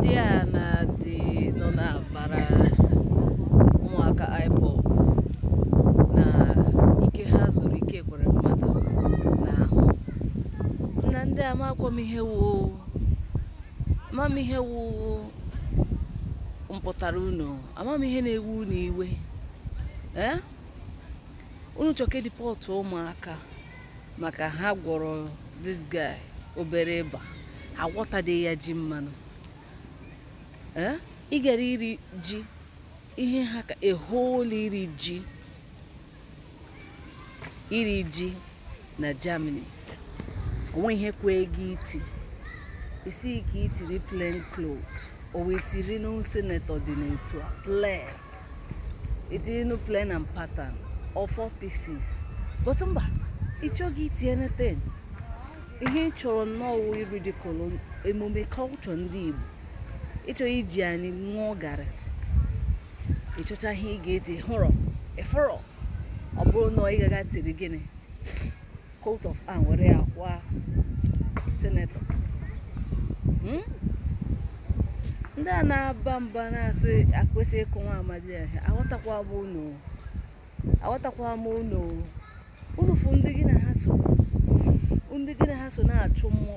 ndị a na-adị nọ na-abara ụmụaka IPOB na ike ha zuru Ike Ekweremadu n'ahụ nna ndị a amakwa m ihe wu ama m ihe wu mpụtara unu ama m ihe na-ewu unu iwe ee unu chọ ka e deport ụmụaka maka ha gwọrọ this guy obere ịba agwọtadị ya ji mmanụ Eh? ị gara iri ji ihe ha ka e hold iri ji iri ji na Germany o nwe ihe kwee gị iti ị sị ka i tiri plain cloth ọ wụ i tiri nụ senator dị n'etu a plain i tiri nụ plain and pattern or four pieces but mba ị chọghị iti anything ihe ị chọrọ nnọọ ị ridicule emume culture ndị Igbo ị chọrọ iji anyị ṅụọ garị ị chọcha ihe ị ga-eti hụrọ ị fụrọ ọ bụrụ na ị gaga tiri gịnị coat of arm were ya kwa senator hmm? ndị a na-aba mba na-asị akwesị ịkụ nwa amadi ahụ aghọtakwa m unu aghọtakwa m unu unu fụ ndị gị na ha so ndị gị na ha so na-achụ mmụọ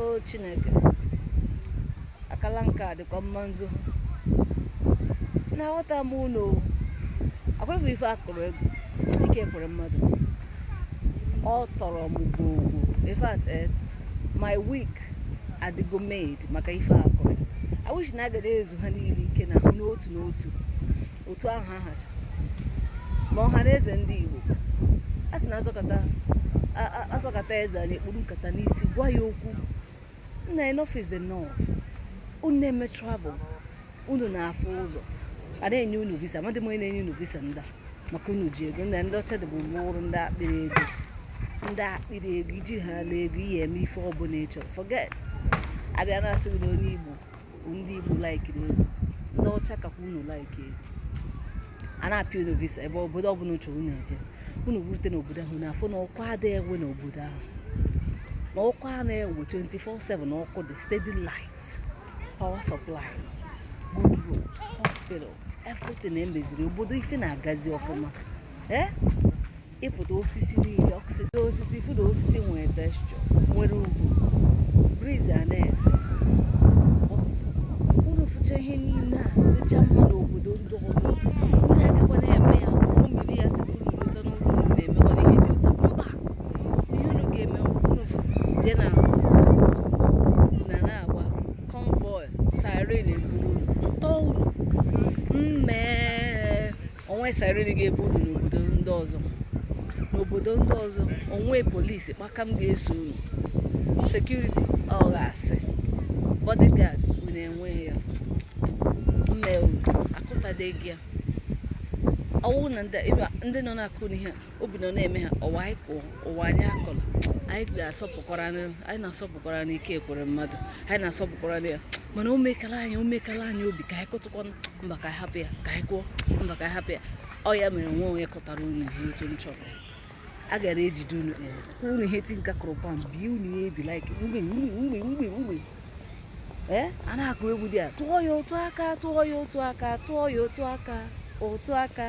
o Chineke akala nke a dịkwa mma nzu nna aghọta m unu ọkụkụ ife a kụrụ egwu Ike Ekweremadu ọ tọrọ m gwogwo in fact eh, my week adịgo made maka ife a kụrụ I wish na a ga-adị ezu ha niile ike n'ahụ n'otu n'otu otu ahụ ha hacha ma Ọhanaeze ndị Igbo a sị na a sọkata eze anya e kpuru nkata n'isi gwa ya okwu nna enough is enough unu na-eme travel unu na-afụ ụzọ a na-enye unu visa amadị m onye na-enye unu visa ndị maka unu ji ego na ndị ọcha dịbu bụrụ ndị akpịrị ego ndị akpịrị ego i jihala ego ị ya-eme ife ọbụla ị chọrọ forget a bịa na-asị gị na onye Igbo ndị Igbo like ego ndị ọcha kakwa unu like ego a na-apịa unu visa ebe obodo ọbụla unu chọrọ unu eje unu rute n'obodo ahụ na-afụ na ọkụ adịghị ewe n'obodo ahụ na ọkụ a na-ewe 24/7 na ọkụ dị steady light power supply good road hospital everything e meziri obodo ife na-agazi ọfụma ee eh? ịpụta osisi niile ọkụsịta osisi fụ na osisi nwere texture nwere ugwu breeze a na-efe But unu fụcha ihe niile a dịcha mma n'obodo ndị ọzọ unu agakwa na-eme ya ụgbọ mmiri ya sị unu lọta n'ụlọ unu na-emekwa ihe dị ụtọ mba ihe unu ga-eme unu bịa na na na-agba convoy siren eburu unu tọọ unu mmee o nwe siren ga-ebu unu n'obodo ndị ọzọ n'obodo ndị ọzọ o nwe polisi kpakam ga-eso unu security ọ ga-asị bodyguard unu enweghị ya mmewu akụtadeghị ya ọ wụ na ndị nọ na-akụ unu ihe a obi nọ na-eme ha ọwa anyị kụọ ụwa anyị akụla anyị na-asọpụkwara anyị na-asọpụkwara Ike Ekweremadu anyị na-asọpụkwara ya mana o mekala anyị o mekala anyị obi ka anyị kụtụkwa mba ka anyị hapụ ya ka anyị kụọ mba ka anyị hapụ ya ọ ya mere enwe onye kụtara unu ihe otu m chọrọ a gara ejide unu unu ihe ti nka kụrụ pam bie unu ya ebi like mgbe mgbe mgbe mgbe mgbe ee a na-akụ egwu dị a tụọ ya otu aka tụọ ya otu aka tụọ ya otu aka otu aka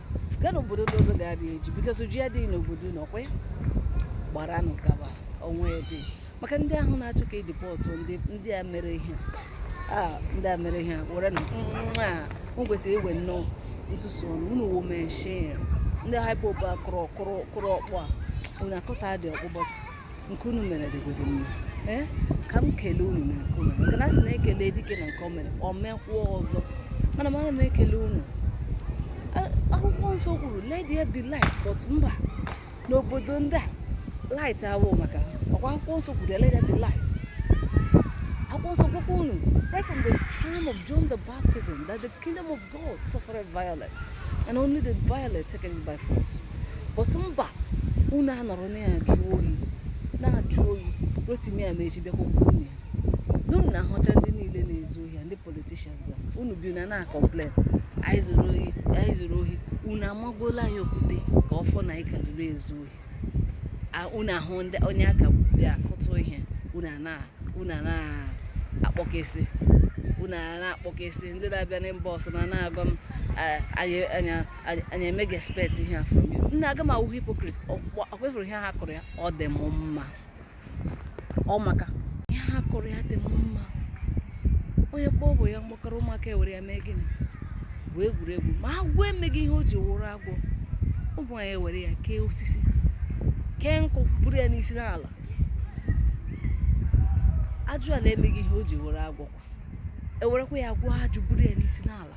gaa n'obodo ndị ọzọ ga-erie ji because ji adịghị n'obodo unu ọ kwa ya gbaranụ gaba o nwe ebe maka ndị ahụ na-achọ ka e deport ndị a mere ihe ndị a mere ihe were na nwa m kwesịrị iwe nnọọ nsusu ọnụ unu wo meshin ndị IPOB a kụrụ ọkpọ a unu akụtadị ọkpọ but nke unu mere dịgodu mma ee ka m kelee unu na nke unu maka na a sị na e kelee dike na nke o mere o mekwuo ọzọ mana m aga m ekele unu akwụkwọ nsọ kwuru let there be light but mba n'obodo ndị a light awụ maka ọ kwa akwụkwọ nsọ kwuru let there be light akwụkwọ nsọ gwakwa unu right from the time of John the Baptism that the Kingdom of God suffered violence, and only the violent take it by force. But mba, unu anọrọ na ya jụọ oyi, na-ajụ oyi, Rotimi Amaechi bịakwa unu ya. N'unu na-ahụcha ndị niile na-ezu ohi, ndị politicians a, unu bịa na na-acomplain, onye zuru ohi, onye zuru ohi, unu amagbuola ya okwute ka ọ fụ na anyị ka jụrụ izu ohi. unu ahụ ndị onye aka bịa kụtụ ihe unu ana unu ana akpọkesị unu ana akpọkesị ndị na-abịa na inbox na na-agwa m anyị emeghị expect ihe a from you nna aga m awụ hypocrite ọ kwa ihe ha kụrụ ya ọ dị m mma ọ maka ihe ha kụrụ ya dị m mma onye kpọọ ọba ya mkpọkọrọ ụmụaka ewere ya mee gịnị bụ egwuregwu ma agwọ emeghị ihe o ji wụrụ agwọ ụmụ nwanyị ewere ya kee osisi kee nkụ buru ya n'isi na-ala ajụala emeghị ihe o ji wụrụ agwọ ewerekwa ya gwọọ ajụ buru ya n'isi na-ala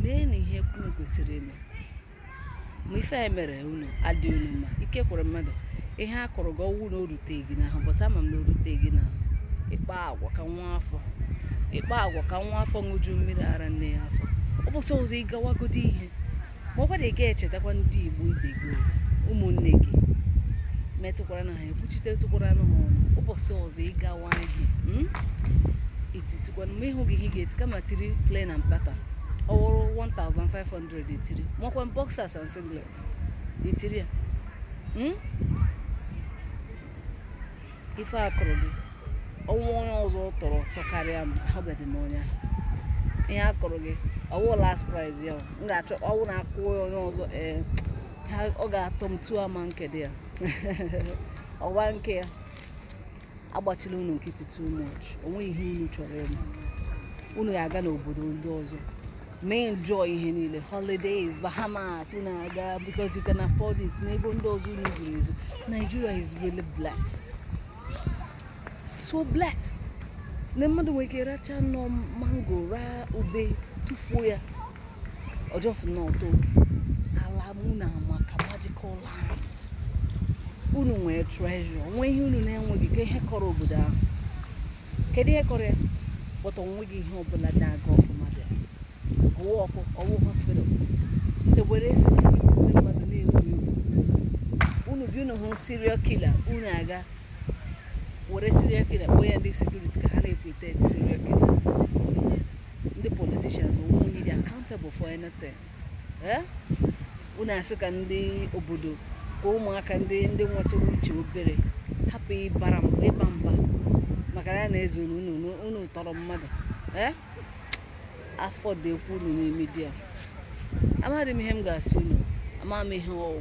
mee na ihe kwuru kwesịrị ime ma ife a mere unu adị unu mma Ike Ekweremadu ihe a kụrụ gị ọ wụ na o ruteghị gị n'ahụ but ama m na o ruteghị gị n'ahụ ịkpa agwa ka nwa afọ ịkpa agwa ka nwa afọ ṅụju mmiri ara nne ya afọ ụbọsị ọzọ ị gawagodi ihe ma ọ gwara ị ga-echetakwa ndị igbo ibe gị ụmụnne gị metụkwara na ha ekwuchite tụkwara na ha ọnụ ụbọchị ọzọ ị gawa ihe hmm? etitikwana ma ị hụghị ihe ị ga-eti kama tiri plain and pattern ọ wụrụ 1500 100 i tiri makwa boxers and singlet i tiri ya hmm? ife a kụrụ gị o nwe onye ọzọ tọrọ tọkarịa m ahụbeghị m onye ihe a kụrụ gị ọ wụ last prize ya m ga-achọ ọ wụ na a kụọ onye ọzọ ee eh, ọ ga-atọ m too ama nke dị ya ọwa nke ya agbachila unu nkịtị too much o nwe ihe unu chọrọ ime unu ya aga n'obodo ndị ọzọ mee enjoy ihe niile holidays bahamas unu aga because you can afford it n'ego ndị ọzọ unu zuru ezu nigeria is really blessed so blessed na mmadụ nwere ike racha nnọọ mango raa ube tụfuo ya ọjọọ si n'ọtọ ala mụ na maka magical land unu nwere treasure o nwe ihe unu na-enweghị ka ihe kọrọ obodo ahụ kedu ihe kọrọ ya but o nweghị ihe ọbụla na-aga ọfụma dị ọ wụ ọkụ ọ wụ hospital ewere security ndị mmadụ na-egwu egwu unu bi unu hụ serial killer unu aga were serial killer kpọnye ndị security ka ha na-eprotect serial killers ndị politicians o nwe onye dị accountable for anything eh? unu asị ka ndị obodo ka ụmụaka ndị ndị nwetụrụ uche obere hapụ ịbara mba ịba mba maka na na-ezuru unu tọrọ mmadụ eh? afọ dị ekwu unu na media amaghị m ihe m ga-asị unu amaghị m ihe ọ wụ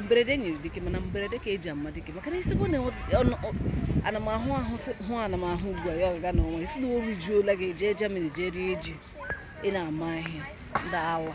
mberede nyiri dike mana mberede ka e ji ama dike maka na ị sịkwa na ana m ahụ ahụ hụ ana m ahụ ugbu a ya ọgaga n'ọnwa isi na o rijuola gị jee Germany jee rie ji ị na-ama ihe ndị awa